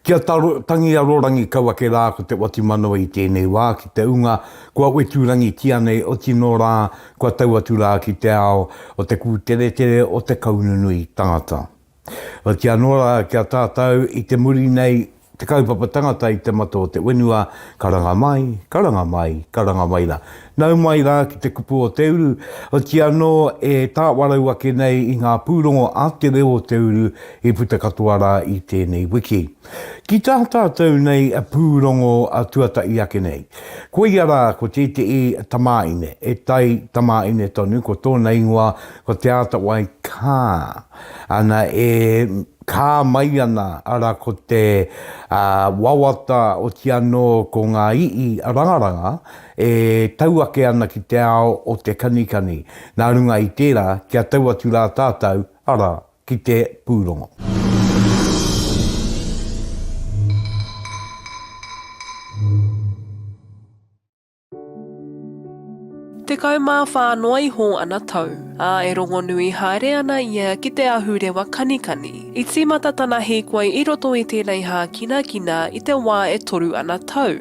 Kia tangi a Rorangi kau ake rā ko Te Watimanawa i tēnei wā ki te unga kua weturangitia nei oti nō rā kua tau atu rā ki te ao o te kūteretere o te kaununui tangata. Otianō rā kia tātau i te muri nei Te kaupapa tangata i te mata o te wenua, karanga mai, karanga mai, karanga mai ra. Nau mai ra ki te kupu o te uru, oti ano e tawarau ake nei i nga purongo a te reo o te uru i puta katoa ra i tenei wiki. Ki ta tatou nei purongo tuata'i ake nei, koia ra ko tete'i tamaine, e tai tamaine tonu ko tona ingoa ko Te Atawai Kaa, ana e. Kā mai ana, ara ko te wawata oti anō ko ngā ii rangaranga e tau ake ana ki te ao o te kanikani, nā runga i tērā kia tau atu rā tātou, ara, ki te pūrongo. Tekau mā whā noa iho ana tau, ā, e rongonui haere ana ia ki te ahurewa kanikani. I tīmata tana hīkoi i roto i tēnei hākinakina i te wā e toru ana tau,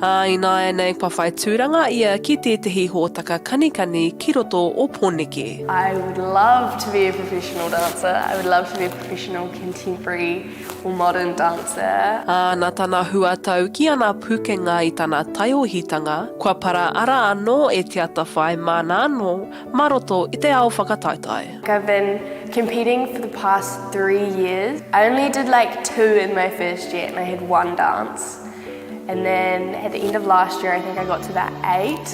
ā, ināianei kua whai tūranga ia ki tētehi hōtaka kanikani ki roto o Pōneke. I would love to be a professional dancer, I would love to be a professional contemporary Or modern dancer. Ā, nā tana huatau ki ana pūkenga i tana taiohitanga, kua paraara anō e Te Atawhai māna anō mā roto i te ao whakataetae. I've been competing for the past three years, I only did like two in my first year and I had one dance and then at the end of last year I think I got to about eight,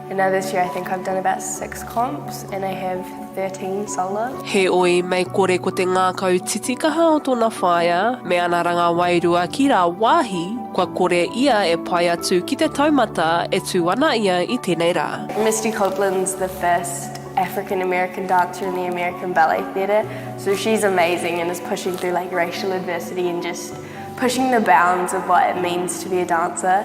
And now this year I think I've done about six comps and I have 13 solo. Heoi, mei kore ko te ngākau titikaha o tona whaea me ana ranga wairua ki rā wāhi, kua kore ia e pai atu ki te taumata e tū ana ia i tenei rā. Misty Copeland's the first African American dancer in the American Ballet Theatre, so she's amazing and is pushing through like racial adversity and just pushing the bounds of what it means to be a dancer.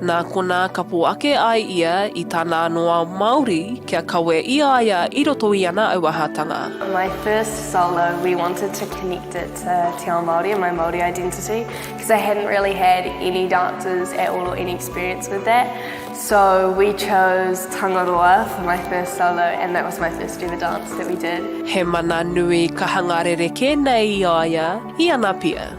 Nā konā ka pō ake ai ia i tana anō ao Māori kia kawe i a ia i roto i ana auahatanga. My first solo we wanted to connect it to te ao Māori and my Māori identity because I hadn't really had any dances at all or any experience with that so we chose Tangaroa for my first solo and that was my first ever dance that we did. He mana nui ka hanga rerekē nei i a ia i ana pia.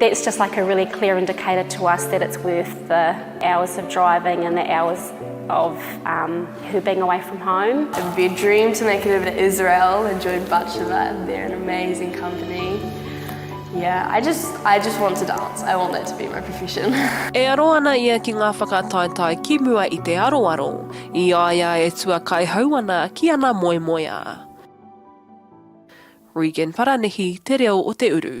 That's just like a really clear indicator to us that it's worth the hours of driving and the hours of um, her being away from home. A big dream to make it over to Israel and join Butcher Lab. They're an amazing company. Yeah, I just I just want to dance. I want that to be my profession. e aro ana ia ki ngā whakataetae ki mua i te aroaro, i aia e tua kai hau ana ki ana moemoeā. Regan Paranihi te reo o te uru.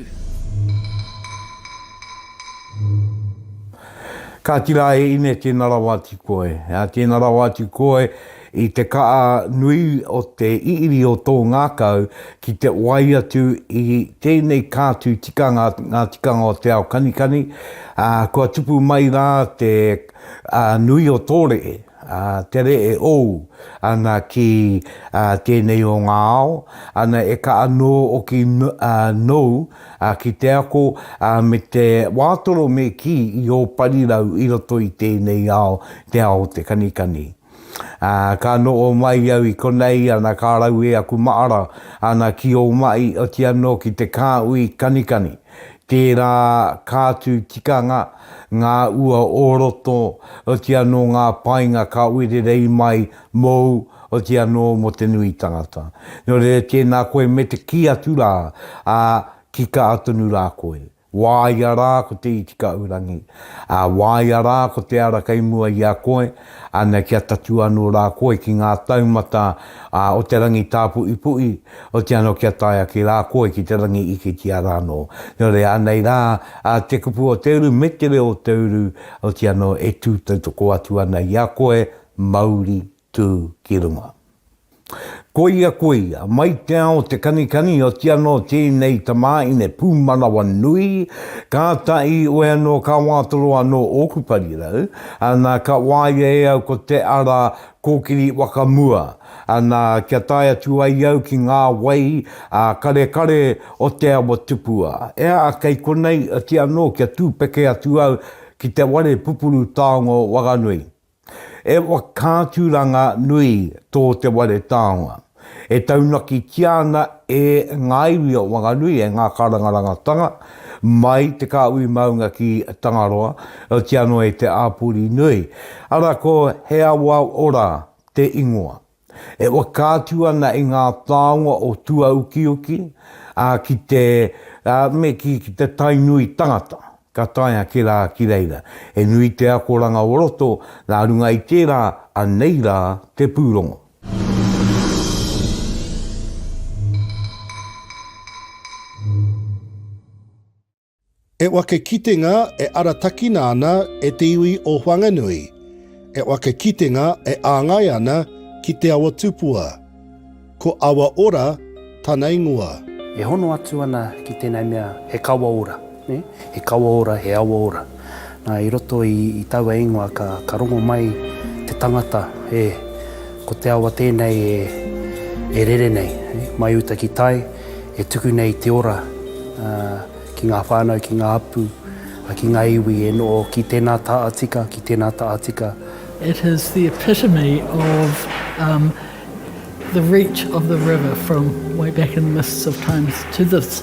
Kāti rā e Ine tēna rawa atu koe. Tēna rawa atu koe i te kaha nui o te iri o tō ngākau ki te wai atu i tēnei kātū tikanga Ngā Tikanga o Te Ao Kanikani, kua tupu mai rā te nui o tō rehe. Ā, tere e ou ana ki ā tēnei o ngā ao, ana e ka anō oki ā nou ā ki te ako ā me te wātoro me kī i ō parirau i roto i tēnei ao, te ao o te kanikani. Ā, ka noho mai au i konei ana ka raue aku maara ana ki ō mahi oti anō ki te kāhui kanikani, tērā kātu tikanga, Ngā ua o roto, oti anō ngā painga ka oirerei mai mōu, oti anō mō te nui tangata. Nō reira tēnā koe me te kī atu rā, ā, ki kā tonu rā koe. Wāia rā ko te Itikaurangi, ā, wāia rā ko te ara kei mua i a koe, Ana kia tatū anō rā koe ki ngā taumata o te rangi tāpuʻipuʻi, oti anō kia tae ake rā koe ki te rangi ike ki a rānō. Nō reira, anei rā te kupu o te uru me te reo o te uru, oti anō e tū tautoko atu ana i a koe, mauri tū ki runga. Koia koia, mai te ao te kanikani oti anō tēnei tamāhine pūmanawa nui, kāta i oe anō ka wātoro anō ōku parirau, ana ka wāia e au ko te ara kōkiri whakamua, ana kia tae atu ai au ki ngā wai ā karekare o te awa tupua. Ea, kei konei oti anō kia tūpeke atu au ki te ware pupuru taonga o Wanganui. E whakaaturanga nui tō Te Ware Taonga. E taunakitia ana e ngā iwi o Wanganui, e ngā karangarangatanga, mai Te Kāhui Maunga ki Tangaroa, otiano e Te Āpuri Nui. Ara ko He Awa Ora te ingoa. E whakaatu ana i ngā taonga o tuaukiuki, ā, ki te, ā, me kī, ki te Tainui tangata, ka tae ake rā ki reira. He nui te akoranga o roto, nā runga i tērā, anei rā te pūrongo. E wake kitenga e aratakina ana e te iwi o Whanganui, e wake kitenga e āngai ana ki Te Awa Tupua. Ko Awa Ora tana ingoa. E hono atu ana ki tēnei mea he kawa ora, he kawa ora, he awa ora. Na, i roto i, i taua ingoa ka, ka rongo mai te tangata, e, ko te awa tēnei e, e rere nei, e, mai uta ki tai, e tuku nei te ora a, ki ngā whānau, ki ngā hapū, a, ki ngā iwi e noho ki tēnā taha tika, ki tēnā taha tika. It is the epitome of um, the reach of the river from way back in the mists of times to this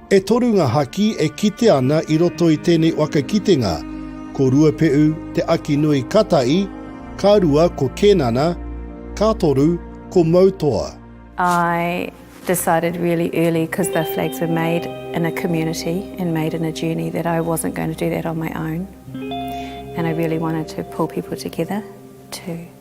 E toru ngā haki e kitea ana i roto i tēnei waka kitenga, ko Ruapeʻu, Te Akinui, ka tahi, ka rua ko Kēnana, ka toru ko Moutoa. I decided really early because the flags were made in a community and made in a journey that I wasn't going to do that on my own and I really wanted to pull people together to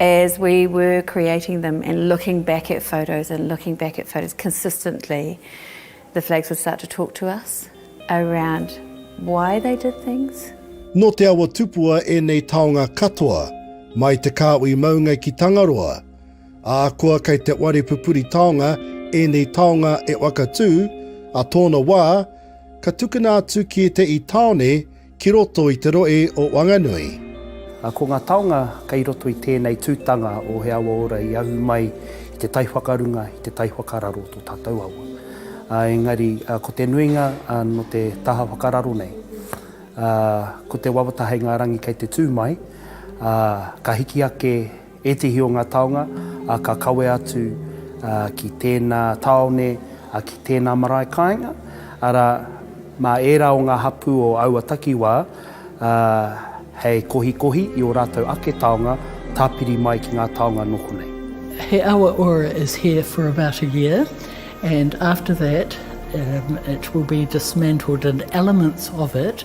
As we were creating them and looking back at photos and looking back at photos consistently, the flags would start to talk to us around why they did things. Nō Te Awa Tupua ēnei taonga katoa, mai te kāhui maunga ki Tangaroa. Ahakoa kei te whare pupuri taonga ēnei taonga e Whakatū, a tōna wā, ka tukuna atu ki ētehi tāone Ki roto i te rohe o Wanganui. Ko ngā taonga kei roto i tēnei tūtanga o He Awa Ora i ahu mai i te tai whakarunga, i te tai whakararo o tō tātou awa. Engari ko te nuinga nō te taha whakararo nei, ko te wawata hei ngā rangi kei te tū mai, ka hiki ake, Ētehi o ngā taonga ka kawe atu ki tēnā tāone, ki tēnā marae kāinga, arā, mā ērā o ngā hapū o aua takiwā hei kohikohi i ō rātou ake taonga tāpiri mai ki ngā taonga noho nei. He awa ora is here for about a year and after that it will be dismantled and elements of it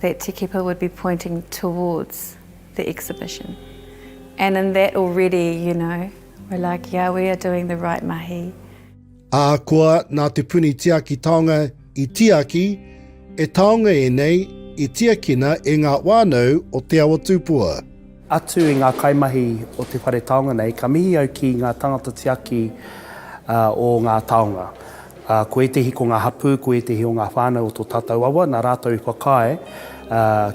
that Te Keepa would be pointing towards the exhibition and in that already, you know, we're like, yeah, we are doing the right mahi. Ahakoa nā Te Puni Tiaki Taonga i tiaki, e taonga ēnei i tiakina e ngā whānau o Te Awa Tūpua. Atu i ngā kaimahi o te whare taonga nei, ka mihi au ki ngā tangata tiaki o ngā taonga. Ko ētehi ko ngā hapū, ko ētehi o ngā whānau o tō tātou awa, nā rātou i whakaae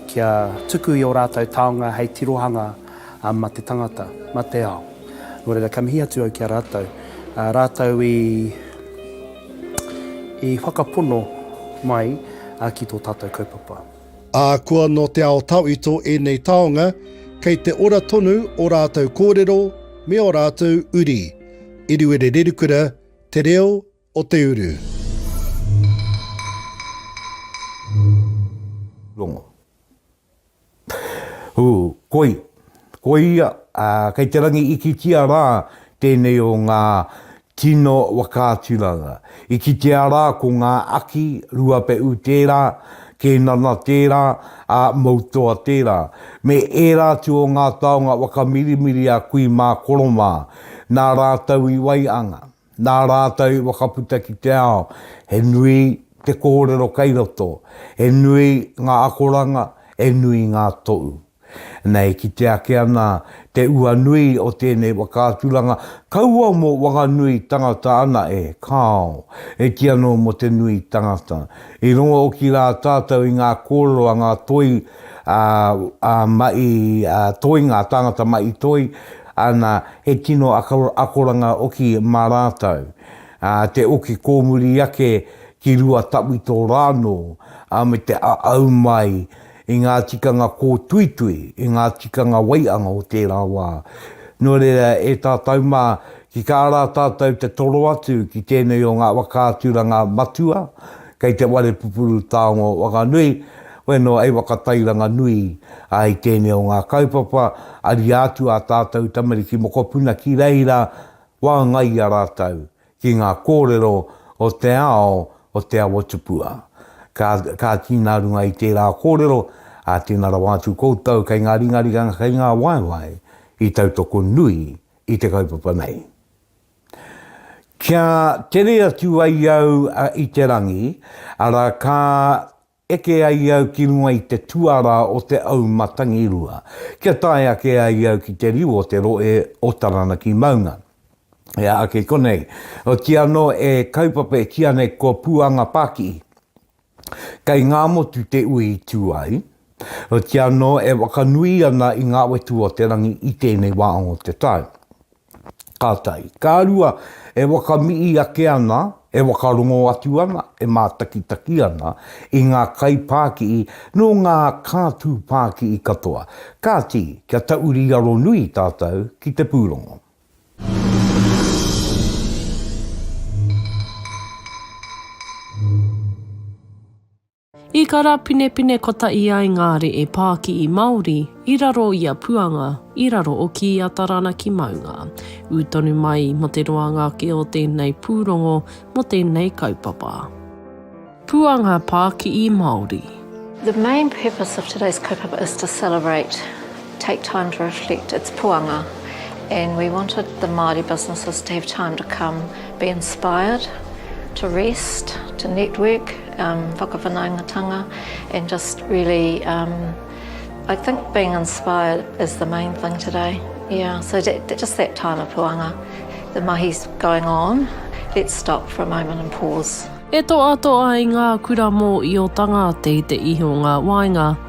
kia tuku i ō rātou taonga hei tirohanga mā te tangata, mā te ao. Nō reira, ka mihi atu au ki a rātou. Rātou i, i whakapono mai ki tō tātou kaupapa. Ahakoa nō te ao tawhito ēnei taonga, kei te ora tonu ō rātou kōrero me ō rātou uri. Eruere Rerukura, Te Reo o te Uru. Rongo. Ū, koi. Koia, ā, kei te rangi ikitia rā tēnei o ngā tino whakaaturanga. I kitea rā ko ngā aki, Ruapeʻu tērā, Kēnana tērā, ā, Moutoa tērā, me ērā atu o ngā taonga whakamirimiri a Kui mā Koro mā, nā rātou i waianga. Nā rātou i whakaputa ki te ao, he nui te kōrero kei roto, he nui ngā akoranga, he nui ngā tohu. Nei ki te ake ana te ua nui o tēnei whakaaturanga, kaua mō Wanganui tangata ana e, kāo, e kī anō mō te nui tangata. I rongo oki rā tātou i ngā kōrero a ngā toi, ā, ā, maʻi, ā, toi, ngā tāngata maʻi toi, Ana, he tino akoranga oki mā rātou, ā, te oki kōmuri ake ki rua tawhito rānō, ā, me te āau mai i ngā tikanga kōtuitui, i ngā tikanga waianga o tērā wā. Nō reira, e tātou mā, ki kā rā tātou te toro atu ki tēnei o ngā whakaaturanga matua kei te whare pupuru taonga o Whanganui, Koe noa e whakatairanga nui ai i tēnei o ngā kaupapa, ariā atu ā tātou tamariki mokopuna ki reira, wāngaia rātou ki ngā kōrero o te ao o Te Awatupua. Ka, ka kī nā runga i tērā kōrero, ā, tēnā rawa atu koutou kei ngā ringaringanga, kei ngā waewae i tautoko nui i te kaupapa nei. Kia tere atu ai au i te rangi, arā, ka eke ai au ki runga i te tuarā o te au matangirua, kia tae ake ai au ki te riu o te rohe o Taranaki maunga. E aha kē konei? Otii anō e kaupapa e kīa nei ko Puanga Pākihi. Kei Ngāmotu te ui i tū ai, otii anō e whakanui ana i ngā wetu o te rangi i tēnei wā o te tau. Ka tai. Ka rua, e wakamii ake ana, e wakarongo atu ana, e mātakitaki ana i ngā kaipākihi nō ngā kātū pākihi katoa. Kāti, kia tauri aro nui tātou ki te pūrongo. I karapinepine kotahi ai ngā re'e pākihi Māori i raro i a Puanga, i raro oki i a Taranaki maunga. Ū tonu mai mō te roanga ake o tēnei pūrongo mō tēnei kaupapa. Puanga pākihi Māori. The main purpose of today's kaupapa is to celebrate take time to reflect its puanga and we wanted the Māori businesses to have time to come, be inspired, to rest, to network, um, whakawhanaungatanga and just really, um, I think being inspired is the main thing today. Yeah, so that, that, just that time of puanga, the mahi's going on, let's stop for a moment and pause. E toa toa i ngā kura mō i o tangate te ihi o ngā wainga.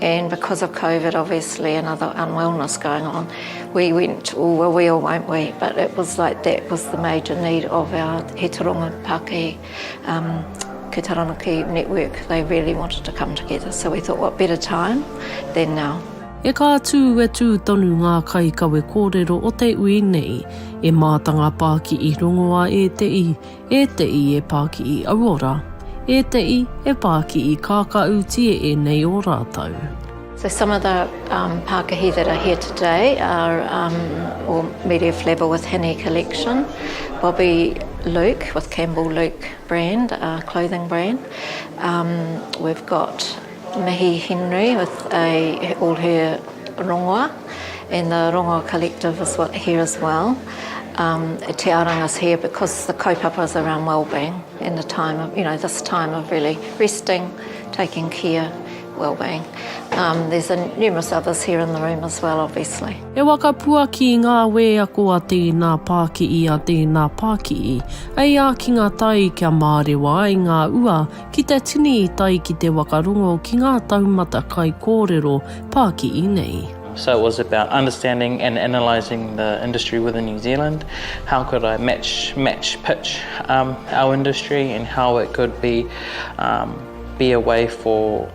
And because of Covid obviously and other unwellness going on, we went all the wheel, won't we? But it was like that was the major need of our He Taronga Pākehī um, Ki Taranaki network. They really wanted to come together, so we thought what better time than now. E kā tū e tū tonu ngā kai kawe kōrero o te ui nei. E mātanga pāki i rongoā e te i, E te i e pa ki i au ora. E te i e pa ki i kakau ti e enei o ratou. So some of the um, Pākahi that are here today are um, or Media Flavour with Hine Collection, Bobby Luke with Campbell Luke brand, uh, clothing brand. Um, we've got Mihi Henry with a all her rongoa and the rongoa collective is what here as well um Te Aranga's here because the kaupapa is around wellbeing and the time of you know this time of really resting taking care wellbeing um there's a numerous others here in the room as well obviously. E waka puaki i ngā wēako a tēnā pākiʻi a tēnā pākiʻi, hei ākinga tai kia mārewa ai ngā ua Ki te tini i tae ki te wakarongo ki ngā taumata kaikōrero pākihi nei. So it was about understanding and analysing the industry within New Zealand, how could I match, match, pitch our industry and how it could be a way for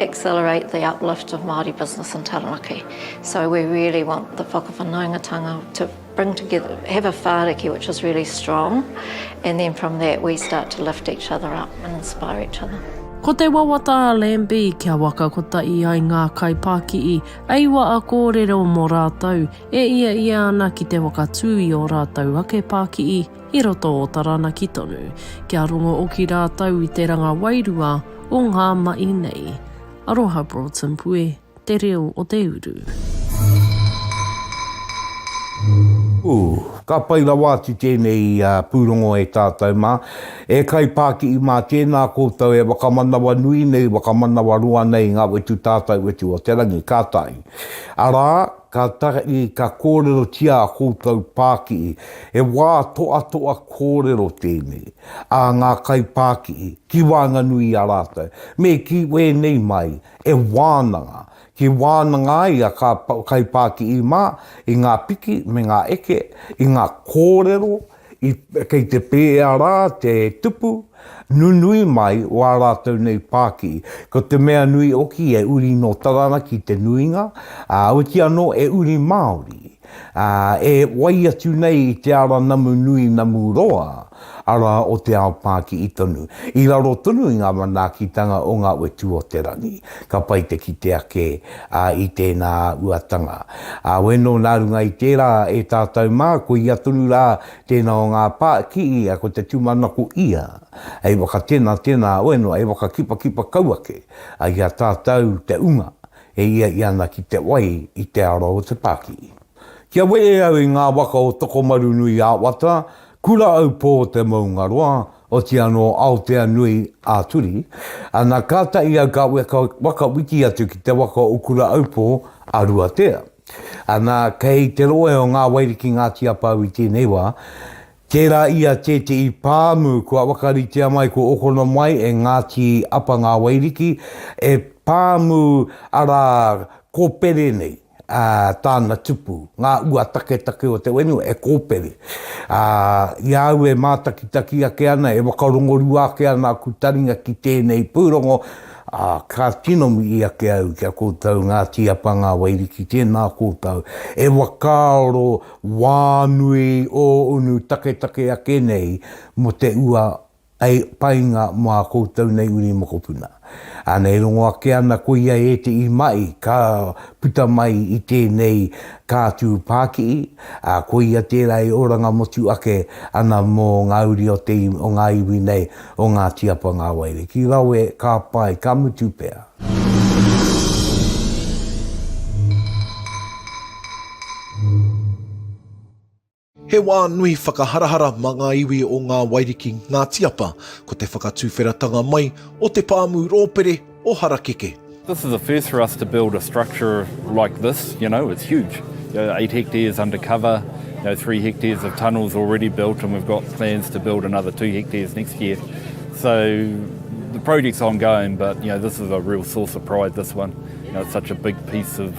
accelerate the uplift of Māori business in Taranaki. So we really want the whakawhanaungatanga to bring together, have a whāriki which is really strong, and then from that we start to lift each other up and inspire each other. Ko te wawata a Lambie kia waka kotahi ai ngā kaipākihi e iwa a kōrero mō rātou, e ia ia ana ki te whakatū i ō rātou ake pākihi, i roto o Taranaki tonu, kia rongo oki rātou i te ranga wairua o ngā mahi nei. Aroha Broughton Pue, Te Reo o te Uru. Ooh. Ka pai rawa atu tēnei pūrongo e tātou mā. E kaipākihi mā, tēnā koutou e whakamanawa nui nei, whakamanawa roa nei ngā wetu tātau wetu o te rangi, ka tahi. Arā, Kātahi ka kōrerotia ā koutou pākihi, he wā toatoa kōrero tēnei, ā ngā kaipākihi ki waenganui i a rātou, me kī wēnei mai e wānanga, kī wānanga ai a kā kaipākihi mā i ngā piki me ngā eke, i ngā kōrero I, kei te pēea rā te tupu nunui mai o ā rātou nei pāki. Ko te mea nui oki e uri nō Taranaki te nuinga, ā, oti anō e uri Māori, ā, e wai atu nei i te ara namu nui namu roa, arā, o te ao Pākiʻi tonu, i raro tonu i ngā manaakitanga o ngā whetū o te rangi. Ka pai te kite ake i tēnā uatanga. Weno nā runga i tērā e tātou mā, ko ia tonu rā tēnā o ngā pā, ki ia ko te tūmanako ia hei wakatenatena, weno hei whakakipakipa kau ake i a tātou te unga e ia i ana ki te wai i te ara o te pākihi. Kia wehe au i ngā waka o Tokomarunui-ā-Wata, Kura-aupō-te-maungaroa, Oti anō Aotea nui ā Turi, ana ka tahi au ka weka waka wiki atu ki te waka o Ukura-aupō a Ruatea. Ana kei te rohe o Ngā Wairiki Ngāti Apau i tēnei wā, tērā ia tētehi pāmu kua wakaritea mai kua okono mai e Ngāti Apa Ngā Wairiki e pāmu arā kōpere nei. ā, tāna tupu, ngā ua taketake o te whenua e kōpere, ā, i a au e mātakitaki ake ana, e whakarongorua ake ana aku taringa ki tēnei pūrongo, ā, ka tino mihi ake au ki a koutou Ngāti Apa Ngā Wairiki, tēnā koutou e whakaaro wānui ō unu taketake ake nei mō te ua Hei painga mō ā koutou nei uri mokopuna. Āna e rongo ake ana ko ia ētehi mahi ka puta mai i tēnei kātū pākihi, ā, ko ia tērā e oranga motu ake ana mō ngā uri o te, o ngā iwi nei o Ngāti Apangawaere. Ki Rawe, ka pai, ka mutu pea. He wā nui whakaharahara mā ngā iwi o Ngā Wairiki Ngā Tiapa, ko te whakatuwheratanga mai o te pāmu rōpere o Harakeke. This is a first for us to build a structure like this, you know, it's huge, eight hectares under cover, three hectares of tunnels already built and we've got plans to build another two hectares next year. So the project's ongoing but, you know, this is a real source of pride, this one, you know, it's such a big piece of...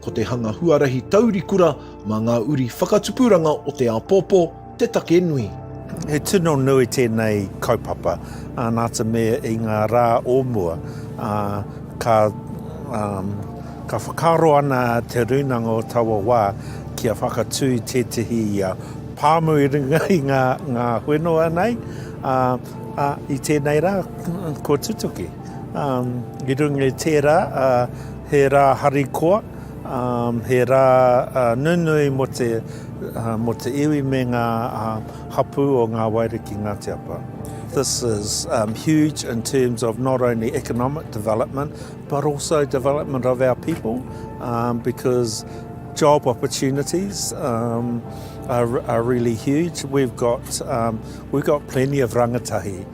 Ko te hanga huarahi taurikura mā ngā uri whakatupuranga o te āpōpō te take nui. He tino nui tēnei kaupapa, nā te mea i ngā rā o mua, ka whakaaro ana Te Rūnanga o taua wā kia whakatū i tētehi pāmu i runga i ngā whenua nei, ā, i tēnei rā kua tutuki. I runga i tērā, he rā harikoa, he rā nunui mō te mō te iwi me ngā hapū o ngā waere ki Ngāti Apa. This is um, huge in terms of not only economic development but also development of our people um, because job opportunities um, are, are really huge. We've got, um, we've got plenty of rangatahi.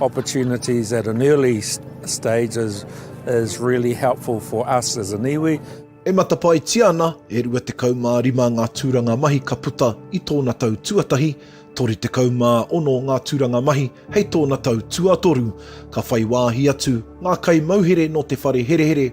opportunities at an early stage is is really helpful for us as an iwi. E matapaetia ana e 25 ngā tūranga mahi ka puta i tōna tau tuatahi, 36 ngā tūranga mahi hei tōna tau tuatoru. Ka whai wāhi atu ngā kaimauhere nō te whare herehere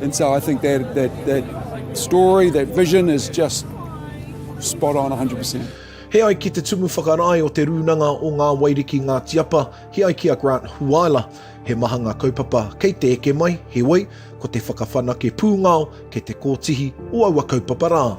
And so I think that, that, that story, that vision is just spot on 100%. He ai ki te tumu whakarae o te rūnanga o Ngā Wairiki Ngāti Apa, he ai ki a Grant Huaila. He maha ngā kaupapa kei te eke mai, heoi, ko te whakawhanake pūngao kei te kōtihi o aua kaupapa rā.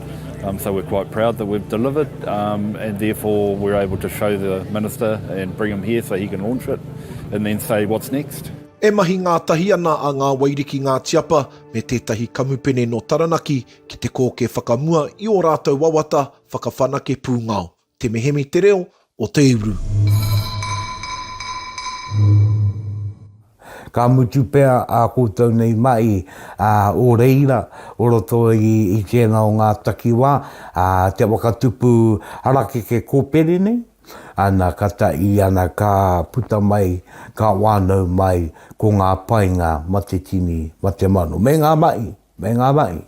Um, so we're quite proud that we've delivered um, and therefore we're able to show the Minister and bring him here so he can launch it and then say what's next. E mahi ngātahi ana a Ngā Wairiki Ngā Tiapa me tētahi kamupene nō Taranaki ki te kōkē whakamua i ō rātou wawata whakawhanake pūngao. Te Mihemi te reo o te uru. Ka mutu pea ā koutou nei mahi o reira o roto i tēnā o ngā takiwā, te waka tupu harakeke kōpere nei, ana ka tahi ana ka puta mai, ka wānau mai ko ngā painga ma te tini, ma te mano, me ngā mahi. Me ngā mahi.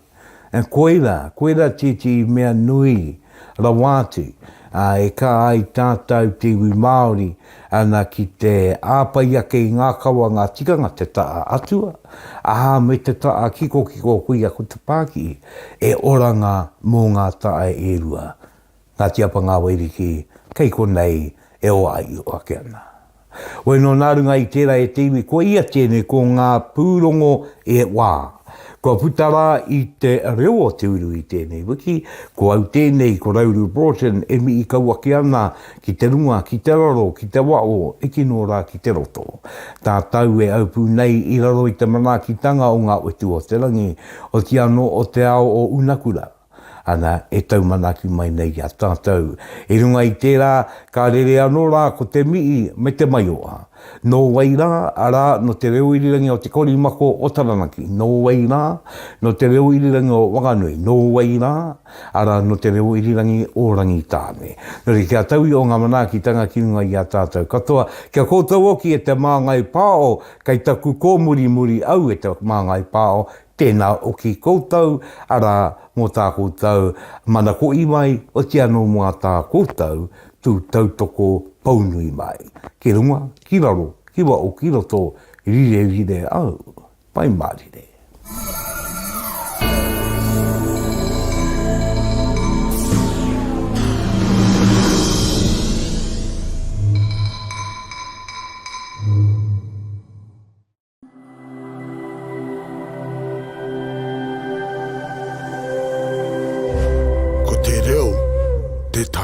Koirā, koirā tētehi mea nui rawa atu e kā ai tātau te iwi Māori ana ki te āwhai ake i ngā kawa, ngā tikanga, te taha atua, aha, me te taha kikokiko, koia ko te pākihi, e oranga mō ngā tae e rua. Ngāti Apa Ngāwairiki, kei konei e oaio ake ana. Wai nō nā runga i tērā e te iwi ko ia tēnei ko ngā pūrongo e wā. Kua puta rā i te reo o te uru i tēnei wiki, ko au tēnei ko Rauru Broughton e mihi kau ake ana ki te runga, ki te raro, ki te waho, hiki nō rā ki te roto. Tātau e aupū nei i raro i te manaakitanga o ngā utu o te rangi, oti anō o te ao o Unakura. ana e taumanaki mai nei i a tātou. I runga i tērā, ka rere anō rā ko te mihi me te maioha. Nō wai rā, arā, nō te reo irirangi o Te Korimako o Taranaki, nō wai rā, nō te reo irirangi o Wanganui, nō wai rā, arā, nō te reo irirangi o Rangitāne. Nō reira, kia taui o ngā manaakitanga ki runga i a tātou katoa, kia kōtou hoki e te māngai pāo, kei taku kōmurimuri au e te māngai pāo, Tēnā hoki koutou, arā, mō tā koutou mana ko Iwai, oti anō mō ā tā koutou tū tautoko pou nui mai. Ki runga, ki raro, ki waho, ki roto, rirerire au. Pai mārire. Ko te reo te take.